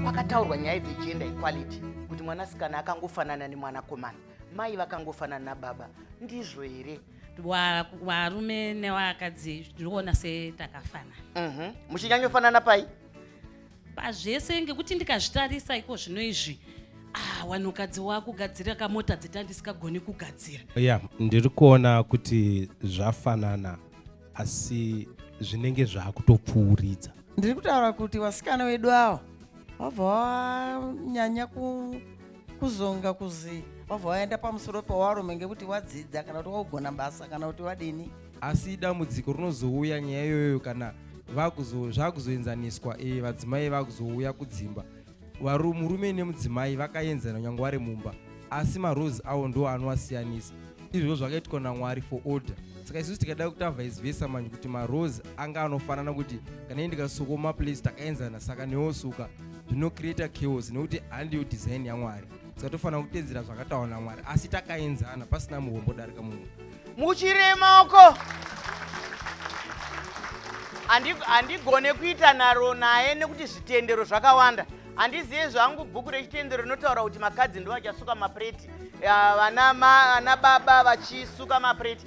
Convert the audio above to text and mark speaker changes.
Speaker 1: Pakataurwa nyaya dzegender equality kuti mwanasikana akangofanana nemwanakomana mai vakangofanana nababa ndizvo here varume
Speaker 2: nevakadzi ndinoona setakafanana mhm. muchinyanyofanana
Speaker 1: pai pazvese
Speaker 2: ngekuti ndikazvitarisa iko zvino izvi ah, wanhukadzi wakugadzira kamota dzita ndisikagoni kugadzira ya yeah, ndiri
Speaker 3: kuona kuti zvafanana asi zvinenge zvaakutopfuuridza ndiri kutaura
Speaker 4: kuti vasikana vedu ava vabva vanyanya kuzonga kuzi vabva vaenda pamusoro pewarume ngekuti wadzidza kana kuti waugona basa kana kuti wadini asi dambudziko
Speaker 5: rinozouya nyaya iyoyo kana zvakuzoenzaniswa eh, vadzimai vakuzouya kudzimba murume nemudzimai vakaenzana nyange vari mumba asi marose awo ndo anowasiyanisa izvozvo zvakaitwa namwari for order saka isusu tikada kuti avaizivesa manje kuti marose anga anofanana kuti kana ii ndikasukoma place takaenzana saka newosuka zvinocreata chaos nekuti handiyo design yamwari saka tofanira kutedzera zvakataura namwari asi takaenzana pasina muhombo darika mumwe muchirema uko
Speaker 1: handigone kuita nharo naye nekuti zvitendero zvakawanda handizive zvangu bhuku rechitendero rinotaura kuti makadzi ndo vachasuka mapureti vana baba vachisuka mapureti